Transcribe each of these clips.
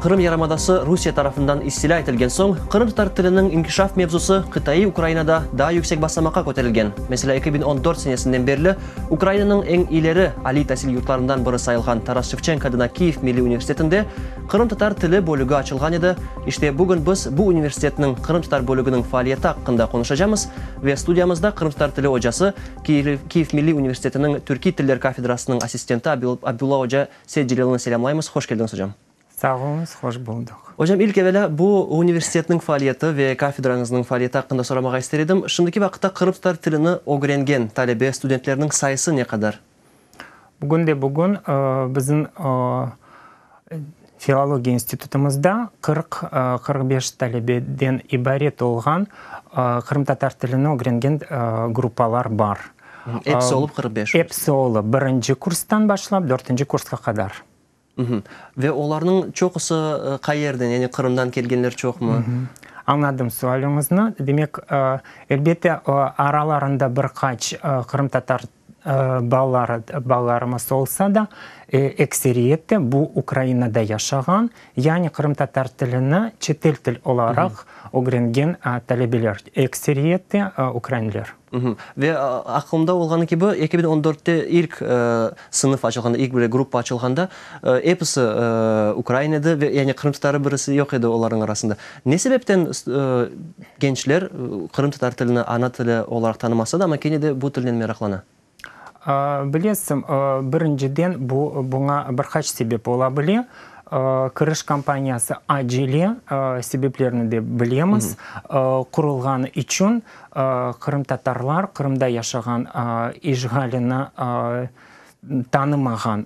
Qırım yarımadası Rusiye tarafından istilâ etilgen soñ, qırımtatar tiliniñ inkişaf mevzusı qıtaiy Ukrainada daa yüksek basamaqqa köterilgen. Meselâ, eki biñ on dört senesinden berli Ukrainanıñ eñ ileri aliy tasil yurtlarından biri sayılğan Taras Şevçenko adına Kiyev Milliy Universitetinde qırımtatar tili bölügi açılğan edi. İşte, bugün biz bu universitetniñ qırımtatar bölüginiñ faaliyeti aqqında qonuşacamız ve studiyamızda qırımtatar tili ocası, Kyiv Milliy Universitetiniñ Türkiy tiller kafedrasınıñ assistenti Abdulla oca Seytcelelni selâmlaymız. Hoş keldiniz, ocam! Sağ oluñız, hoş buldıq. Ocam, ilk evelâ bu universitetniñ faaliyeti ve kafedrañıznıñ faaliyeti aqqında soramağa ister edim. Şimdiki vaqıtta qırımtatar tilini ögrengen talebe, studentlerniñ sayısı ne qadar? Bugün de bugün bizim filologiya institutımızda qırq, qırq beş talebeden ibaret olğan qırımtatar tilini ögrengen gruppalar bar. Episi olıp qırq beş? Episi olıp, birinci kurstan başlap, dörtünci kursqa qadar. Ve olarnıñ çoqusı qayerden, yani Qırımdan kelgenler çoqmı? Añladım sualüñizni. Demek, elbette, aralarında bir qaç qırımtatar balaları, balalarımız olsa da, ekseriyette bu Ukrainada yaşağan, yani qırımtatar tilini çetel til olaraq ögrengen talebeler, ekseriyette ukrainler. Ve aqılımda olğanı kibi, eki biñ on dörtte ilk sınıf açılğanda, ilk böyle gruppa açılğanda, episi ukrain edi ve yani qırımtatarı birisi yoq edi olarnıñ arasında. Ne sebepten gençler qırımtatar tilini ana tili olaraq tanımasa da, amma kene de bu tilnen meraqlana? Bilesiñ, birinciden, bu, buña bir qaç sebep ola bile. Kiriş kampaniyası acele, sebeplerini de bilemiz, qurulğanı içün qırımtatarlar Qırımda yaşağan işğalini tanımağan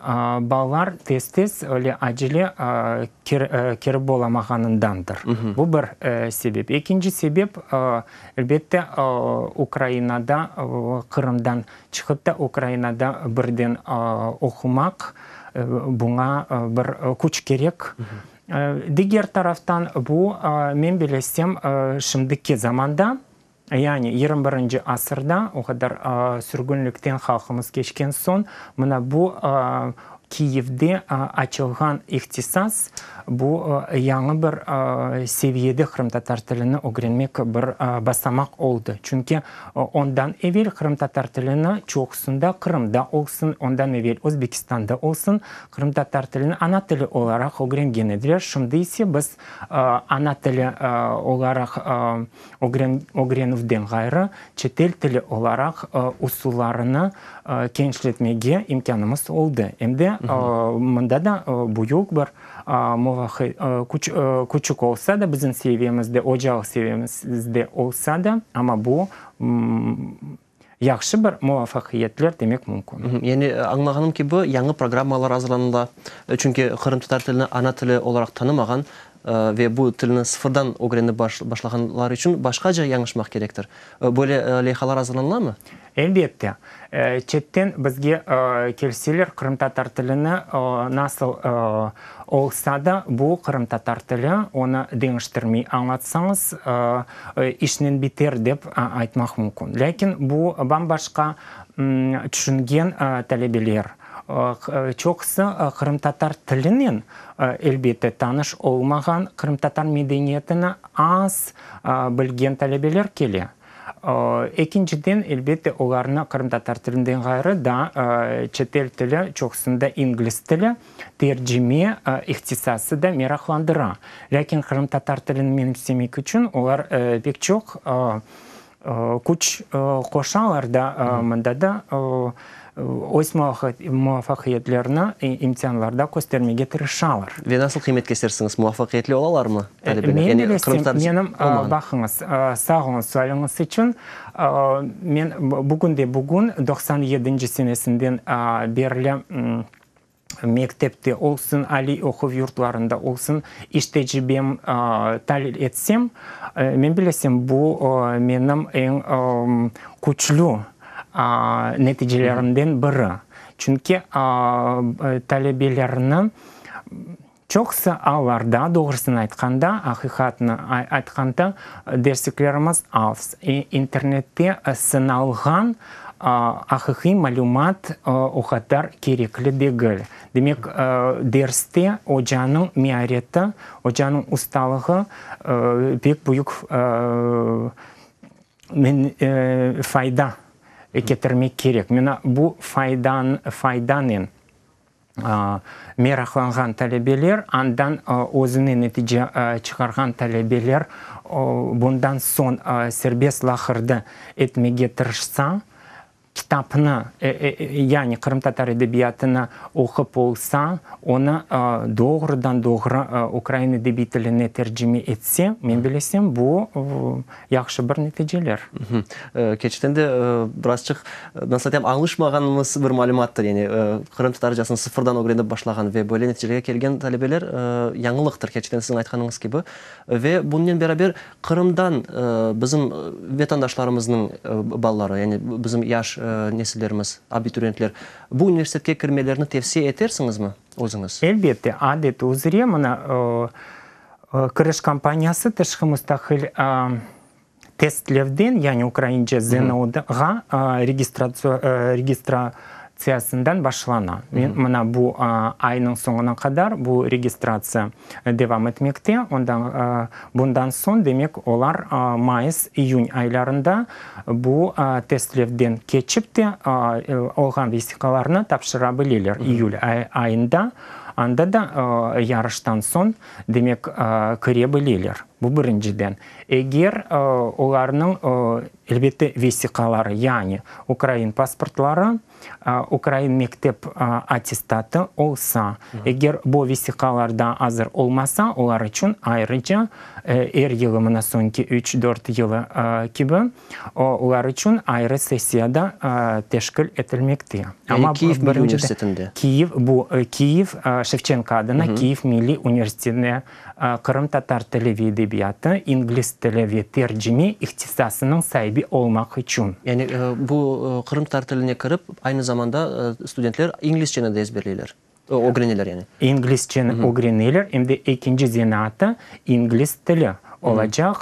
balalar tez-tez, öyle acele kirip olamağanındandır. Bu bir sebep. Ekinci sebep, Elbette, Ukrainada, Qırımdan çıqıp da Ukrainada birden oqumaq, buña bir küç kerek. Diger taraftan, bu, men bilesem, şimdiki zamanda, yani yirmi birinci asırda, o qadar sürgünlikten halqımız keçken soñ, mına bu, Kiyevde açılğan ihtisas, bu, yañı bir seviyede qırımtatar tilini ögrenmek bir basamaq oldı. Çünki ondan evel qırımtatar tilini çoqusında, Qırımda olsun, ondan evel Özbekistanda olsun, qırımtatar tilini ana tili olaraq ögrengen ediler. Şimdi ise biz ana tili olaraq, ögrenüvden ğayrı, çetel tili olaraq usullarını kenişletmege imkânımız oldı, em de mında da büyük bir küçük olsa da, bizim seviyemizde, ocalıq seviyemizde olsa da, amma bu Yahşı bir muvafaqiyetler demek mümkün. Yani, añlağanım kibi, yañı programmalar azırlanıla, çünki qırımtatar tilini ana tili olaraq tanımağan ve bu tilni sıfırdan ögrenip başlağanlar içün başqaca yañışmaq kerektir. Böyle leyhalar azırlanılamı? Elbette. Çetten bizge kelseler, qırımtatar tilini nasıl Olsa da bu qırımtatar tili, onı deñiştirmey añlatsañız, işnen biter dep aytmaq mümkün. Lâkin bu bam-başqa tüşüngen talebeler. Çoqusı qırımtatar tilinen, elbette, tanış olmağan, qırımtatar medeniyetini az bilgen talebeler kele. Ekinciden, elbette, olarnı qırımtatar tilinden ğayrı daa çetel tili, çoqusında ingliz tili, Tercime ihtisası da meraqlandıra, lâkin qırımtatar tilini menimsemek içün olar pek çoq küç qoşalar da, mında da öz muvafaqiyetlerini imtihanlarda köstermege tırışalar. Ve nasıl qıymet kesersiñiz, muvafaqiyetli olalarmı talebeler? Men bilesem, menim, baqıñız, sağ oluñ sualiñiz içün, men bugün de bugün, doqsan yedinci senesinden berli mektepte olsun, aliy oquv yurtlarında olsun iş tecribem talil etsem, men bilesem, bu menim eñ küçlü neticelerimden biri. Çünki talebelerni Çoqusı allarda, doğrusını aytqanda, aqiqatnı aytqanda, dersliklerimiz az. İnternette sınalğan aqiqiy malümat o qadar kerekli degil. Demek, derste ocanıñ meareti, ocanıñ ustalığı pek büyük fayda ketirmek kerek. Mına bu faydanen. meraqlanğan talebeler, andan özüne netice çıqarğan talebeler bundan soñ serbest laqırdı etmege tırışsa, kitapnı, yani qırımtatar edebiyatını oqup olsa, onı doğrudan-doğru ukrain edebiy tiline tercime etse, men bilesem, bu, Yahşı bir neticeler. Kerçekten de birazçıq, nasıl aytam, alışmağanımız bir malümattır. Yani Qırım Tatarcasını sıfırdan ögrenip başlağan ve böyle neticelerge kelgen talebeler yañılıqtır, kerçekten siziñ aytqanıñız kibi. Ve bunnen beraber Qırımdan bizim vetandaşlarımıznıñ balaları, yani bizim yaş nesillerimiz, abituriyentler bu universitetke kirmelerini tevsiye etersiñizmi özüñiz? Elbette, adeti üzre, mına, Kiriş kampaniyası tışqı mustaqil testlevden, yani ukraince ZNO ğa registratsiyasından başlana. Mına bu aynıñ soñuna qadar bu registratsiya devam etmekte. Bundan soñ, demek, olar mayıs, iyün aylarında bu testlevden keçip de, olğan vesiqalarnı tapşıra bileler. İyül ayında Anda da yarıştan soñ, demek, kire bileler. Bu birinciden. Eger olarnıñ, elbette, vesiqaları, yani ukrain pasportları, ukrain mektep attestatı olsa, eger bu vesiqalarda azır olmasa, olar içün ayrıca er yılı, mına soñki üç-dört yılı kibi, O, lar içün ayrı sessiya da teşkil etilmekte. Yani Kiyiv Milliy Universitetinde? Kiyiv, bu, Kiyiv, Şevçenko adına Kiyiv Milliy Universitetinde qırımtatar tili ve edebiyatı, ingliz tili ve tercime ihtisasınıñ saibi olmaq içün. Yani bu qırımtatar tiline kirip, aynı zamanda studentler inglizçeni de ezberleyler? ögreneler yani. İnglizceni ögreneler, em de ekinci zenaatı ingliz tili olacaq,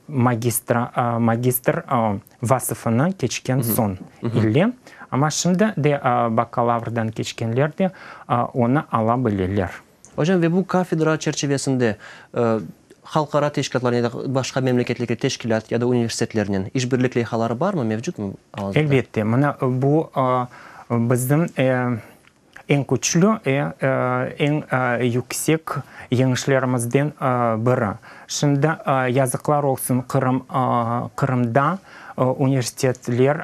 magistra, magistr vasıfını keçken soñ ile. Amma şimdi de bakalavrdan keçkenler de onı ala bileler. Ocam, ve bu kafedra çerçivesinde halqara teşkilâtlar ya da başqa memleketlerge teşkilât ya da universitetlernen işbirlik leyhaları barmı, mevcutmı? Elbette, mına bu bizim Eñ küçlü ve eñ yüksek yeñişlerimizden biri. Şimdi yazıqlar olsun Qırım, Qırımda universitetler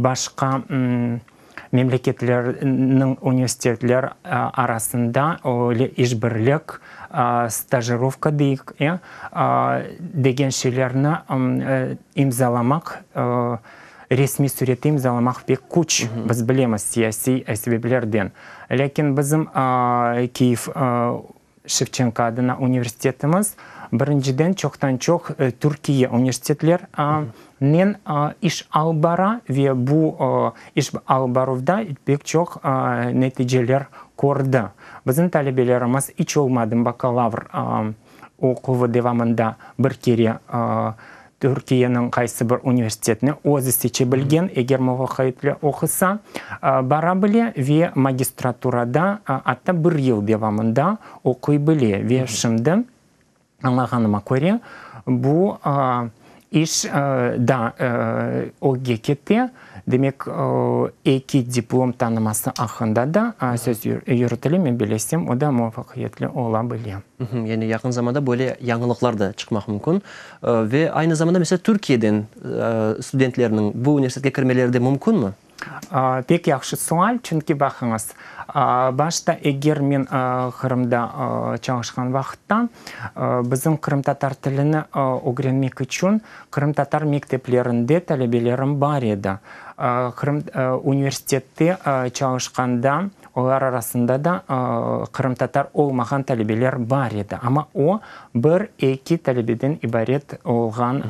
başqa memleketlerniñ universitetler arasında öyle işbirlik, stajirovka deyik, degen şeylerni imzalamaq Resmiy sürette imzalamaq pek küç, biz bilemiz, siyasiy sebeplerden. Lâkin bizim Kyiv Şevçenko adına universitetimiz, birinciden, çoqtan-çoq Türkiye universitetlerinen iş alıp bara ve bu iş alıp baruvda pek çoq neticeler kördi. Bizim talebelerimiz iç olmadım bakalavr oquvu devamında bir kere Türkiyeniñ qaysı bir universitetini özü seçe bilgen, eger muvaqaitle oqusa, bara bile ve magistraturada atta bir yıl devamında oquy bile. Ve şimdi, añlağanıma köre, bu iş da OGGKte Demek, eki diplom tanıması aqqında da söz yürütile, men bilesem, o da muvafaqiyetli ola bile. Yani yaqın zamanda böyle yañılıqlar da çıqmaq mümkün. Ve aynı zamanda, mesela, Türkiyeden studentlerniñ bu universitetke kirmeleri de mümkünmi? Pek yahşı sual, çünki baqıñız, başta eger men Qırımda çalışqan vaqıtta bizim qırımtatar tilini ögrenmek içün Qırımtatar mekteplerinde talebelerim bar edi. Qırım universitette çalışqanda olar arasında da qırımtatar olmağan talebeler bar edi. Amma o, bir, eki talebeden ibaret olğan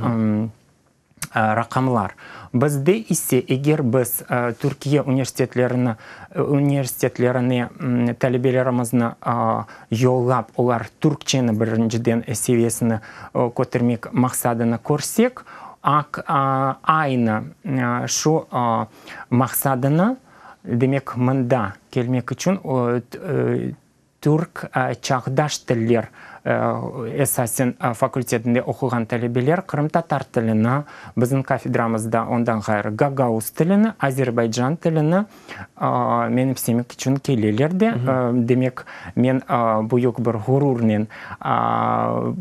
raqamlar. Bizde ise, eger biz Türkiye universitetlerini, universitetlerine talebelerimizniñ Yollap, olar türkçeni birinciden seviyesine kötermek maqsadını körsek, aq aynı şu maqsadını, demek, mında kelmek içün Türk çağdaş tiller esasen fakultetinde oquğan talebeler qırımtatar tilini, bizim kafedramızda ondan ğayrı gagauz tilini, azerbaycan tilini, Meni istemek içün keleler de, demek, men büyük bir ğururnen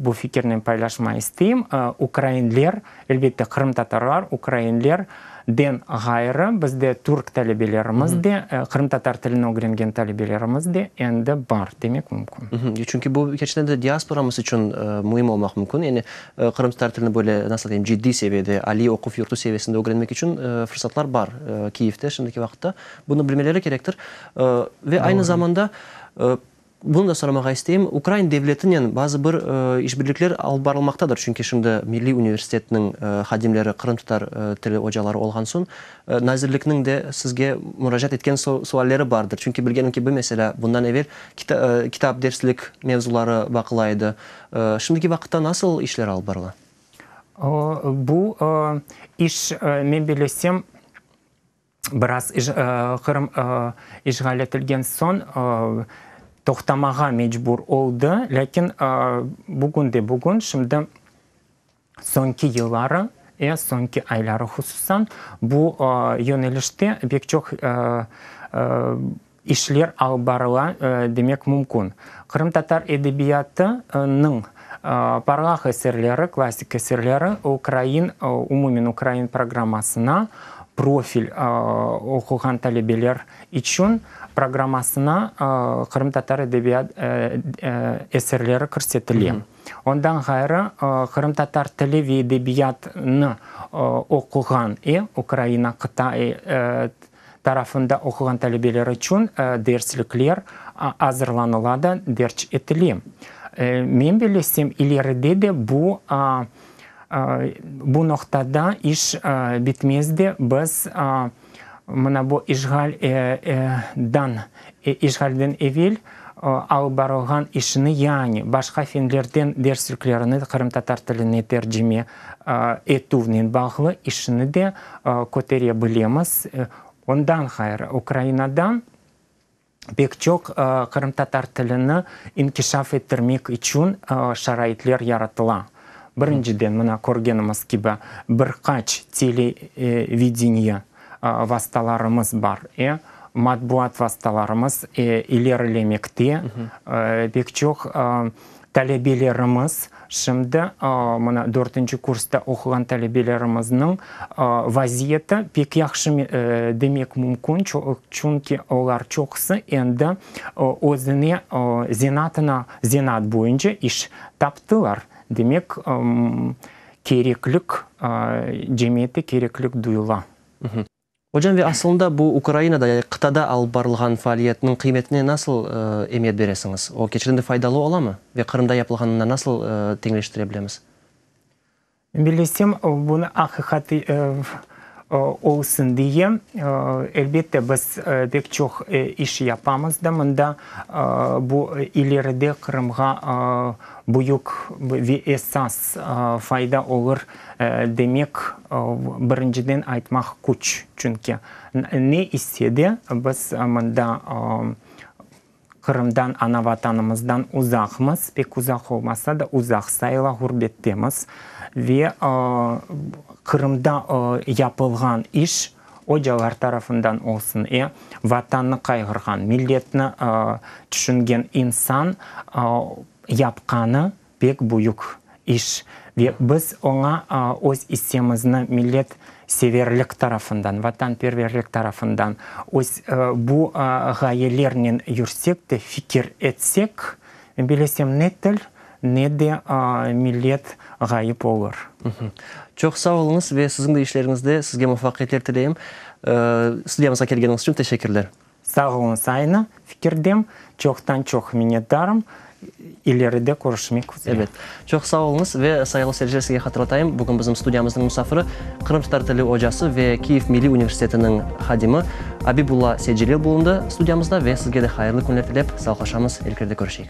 bu fikirnen paylaşma isteyim. Ukrainler, elbette, qırımtatarlar, ukrainler den ğayrı, bizde türk talebelerimiz de, qırımtatar tilini ögrengen talebelerimiz de endi bar demek mümkün. Çünki bu, keçten de, diasporamız içün müim olmaq mümkün. Yani Qırımtatar tilini böyle, nasıl deyim, ciddiy seviyede, aliy oquv yurtu seviyesinde ögrenmek içün fırsatlar bar Kiyevde şimdiki vaqıtta. Bunı bilmeleri kerektir. Ve aynı zamanda bunı da soramağa isteyim, ukrain devletinen bazı bir işbirlikler alıp barılmaqtadır, çünki şimdi milliy universitetniñ hadimleri qırımtatar tili ocaları olğan soñ, nazirlikniñ de sizge muracaat etken sualleri bardır, çünki bilgenim kibi, meselâ, bundan evel kitap derslik mevzuları baqıla edi, Şimdiki vaqıtta nasıl işler alıp barıla? Bu iş, men bilesem, biraz Qırım işğal etilgen soñ toqtamağa mecbur oldı, lâkin bugün de bugün, şimdi Soñki yılları, e, soñki ayları hususan, bu yönelişte bek çoq işler alıp barıla demek mümkün. Qırımtatar edebiyatınıñ parlaq eserleri, klassik eserleri ukrain, umumen ukrain programmasına, profil oquğan talebeler içün programmasına qırımtatar edebiyat eserleri kirsetile. Ondan ğayrı, qırımtatar tili ve edebiyatını oquğan i Ukraina qıtaiy tarafında oquğan talebeler içün derslikler azırlanıla da derc etile. Men bilesem, ileride de bu bu noqtada iş bitmez de biz Mına bu işğal dan işğalden evel alıp barılğan işini yani başqa fenlerden dersliklerini qırımtatar tiline tercime etüvnen bağlı işini de kötere bilemiz. Ondan ğayrı Ukrainadan. pek çoq qırımtatar tilini inkişaf ettirmek içün şaraitler yaratıla. Birinciden, mına körgenimiz kibi, bir qaç televideniye vastalarımız bar, e, matbuat vastalarımız ilerilemekte, pek çoq Talebelerimiz, şimdi mına dörtünci kursta oquğan talebelerimizniñ vaziyeti pek yahşı demek mümkün, çünki olar çoqusı endi özüne zenatına, zenat boyunca iş taptılar. Demek, kereklik, cemiyette kereklik duyula. Ocam ve asılında bu Ukrainada ya qıtada alıp barılğan faaliyetniñ qıymetine nasıl emiyet beresiñiz? O keçirende faydalı olamı ve Qırımda yapılğanına nasıl teñleştire bilemiz? Bilesem, bunı aqiqat olsun diye, elbette, biz pek çoq iş yapamız da mında. Bu ileride Qırımğa büyük ve esas fayda olur Demek, birinciden aytmaq küç, çünki ne ise de biz mında Qırımdan, ana Vatanımızdan uzaqmız, pek uzaq olmasa da, uzaq sayıla ğurbettemiz. Ve Qırımda yapılğan iş, ocalar tarafından olsun, e, Vatannı qayğırğan, milletni tüşüngen insan yapqanı pek büyük iş ve biz oña öz issemizni millet severlik tarafından, vatanperverlik tarafından öz bu ğayelernen yürsek de, fikir etsek, men bilesem ne til, ne de millet ğayıp olur. Çoq sağ oluñız ve siziñ de işleriñizde sizge muvafaqiyetler tileyim. Studiyamızğa kelgeniñiz içün teşekkürler. Sağ oluñız, aynı fikirdem, çoqtan-çoq minnetdarım, ileride körüşmek üzere. Evet, çoq sağ oluñız ve sayılı seyirciler sizge hatırlatayım, bugün bizim studiyamıznıñ musafiri qırım tatar tili ocası ve Kiyev milliy universitetiniñ hadimi Abibulla Seycelil bulundı studiyamızda ve sizge de hayırlı künler tilep sağlıqlaşamız, ilkerde körüşeyik.